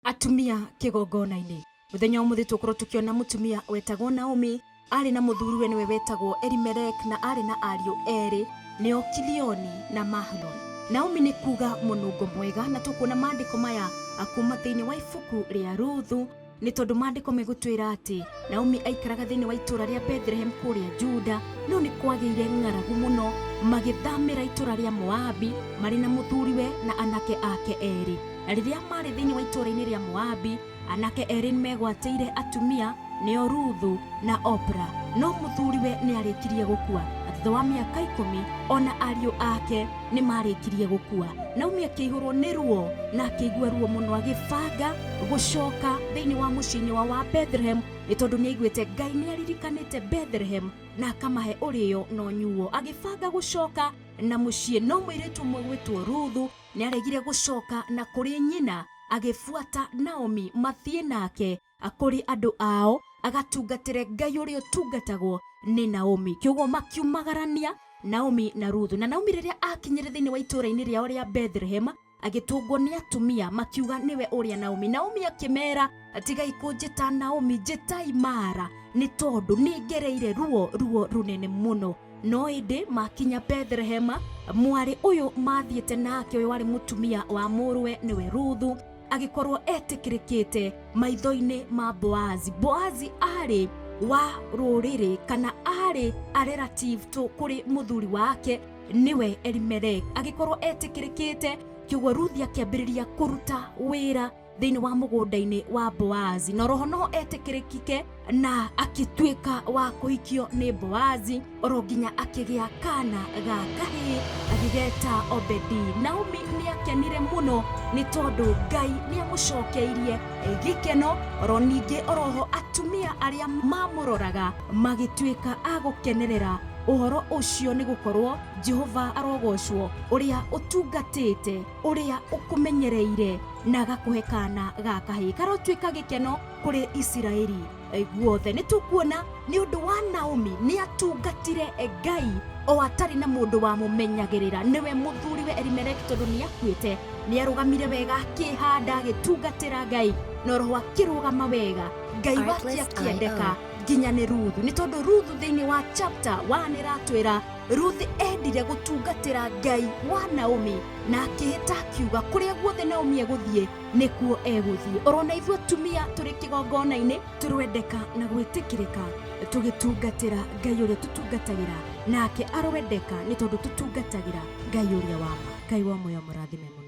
atumia kĩgongonainĩ mũthenya ũmũthĩ tũkorwo tũkĩona mũtumia wetagwo Naomi Aarĩ na mũthuriwe nĩwe wetagwo Elimelek na aarĩ na ariũ erĩ nĩo Kilioni na Mahloni. Naomi nĩ kuuga mũnungo mwega na tũkuona maandĩko maya kuuma thĩinĩ wa ibuku rĩa Ruthu nĩ tondũ maandĩko megũtwĩra atĩ Naomi aikaraga thĩinĩ wa itũũra rĩa Bethlehem kũrĩa Juda no nĩ kwagĩire ng'aragu mũno magĩthamĩra itũũra rĩa Moabi marĩ na mũthuriwe na anake ake erĩ na rĩrĩa maarĩ thĩinĩ wa itũũra-inĩ rĩa Moabi Anake erĩ nĩ meegwatĩire atumia, nĩo Ruthu na Opra. No mũthuriwe nĩ aarĩkirie gũkua. Thutha wa mĩaka ikũmi, o na ariũ ake nĩ maarĩkirie gũkua. Naomi akĩihũrũo nĩ ruo na akĩigua ruo mũno, agĩbanga gũcoka thĩinĩ wa mũciĩ-inĩ wao wa Bethlehem, nĩ tondũ nĩ aiguĩte Ngai nĩ aririkanĩte Bethlehem na akamahe ũrĩo na ũnyuo. Agĩbanga gũcoka na mũciĩ, no mũirĩtu ũmwe ũgwĩtwo Ruthu nĩ aaregire gũcoka na kũrĩ nyina. Agĩbuata Naomi mathiĩ nake kũrĩ andũ ao, agatungatĩre Ngai ũrĩa ũtungatagwo nĩ Naomi. Kwoguo makiumagarania Naomi na Ruthu. Na Naomi rĩrĩa aakinyire thĩinĩ wa itũũra-inĩ rĩao rĩa Bethlehema, agĩtũngwo nĩ atumia, makiuga, Nĩwe ũrĩa Naomi. Naomi akĩmeera. tigai kũnjĩta naomi njĩtai mara nĩ tondũ nĩ ngereire ruo ruo rũnene mũno no ĩndĩ makinya bethlehema mwarĩ ũyũ mathiĩte nake ũyũ warĩ mũtumia wa mũrũwe nĩwe ruthu agĩkorwo etĩkĩrĩkĩte maitho-inĩ ma boazi boazi arĩ wa rũrĩrĩ kana arĩ a relative to kũrĩ mũthuri wake nĩwe elimelek agĩkorwo etĩkĩrĩkĩte kĩguo ruthi akĩambĩrĩria kũruta wĩra thĩinĩ wa mũgũnda-inĩ wa boazi na roho no etĩkĩrĩkike na akĩtuĩka wa kũhikio nĩ boazi oro nginya akĩgĩa kana ga kahĩĩ agĩgeta obedi naomi nĩ akenire mũno nĩ tondũ ngai nĩ amũcokeirie gĩkeno oro ningĩ oroho atumia arĩa mamũroraga magĩtuĩka a gũkenerera ũhoro ũcio nĩ gũkorwo jehova arogocwo ũrĩa ũtungatĩte ũrĩa ũkũmenyereire na agakũhe kaana ga kahĩĩ karotuĩka gĩkeno kũrĩ isiraeli guothe nĩ tũkuona nĩ ũndũ wa naomi nĩ atungatire ngai o atarĩ na mũndũ wamũmenyagĩrĩra nĩwe mũthuriwe elimeleki tondũ nĩ akuĩte nĩ arũgamire wega akĩhanda agĩtungatĩra ngai na roho akĩrũgama wega ngai wake Artlist akĩendeka IO. nginya nĩ ruthu nĩ tondũ ruthu thĩinĩ wa chapter wa nĩ ratwĩra Ruthi eendire gũtungatĩra Ngai wa Naomi na akĩhĩta akiuga kũrĩa guothe Naomi egũthiĩ nĩkuo egũthiĩ. Ũrona ithuĩ atumia tũrĩ kĩgongona-inĩ tũrwendeka na gwĩtĩkĩrĩka tũgĩtungatĩra Ngai ũrĩa tũtungatagĩra nake arwendeka nĩ tondũ tũtungatagĩra Ngai ũrĩa wa ma. Ngai wa muoyo amũrathime mũno.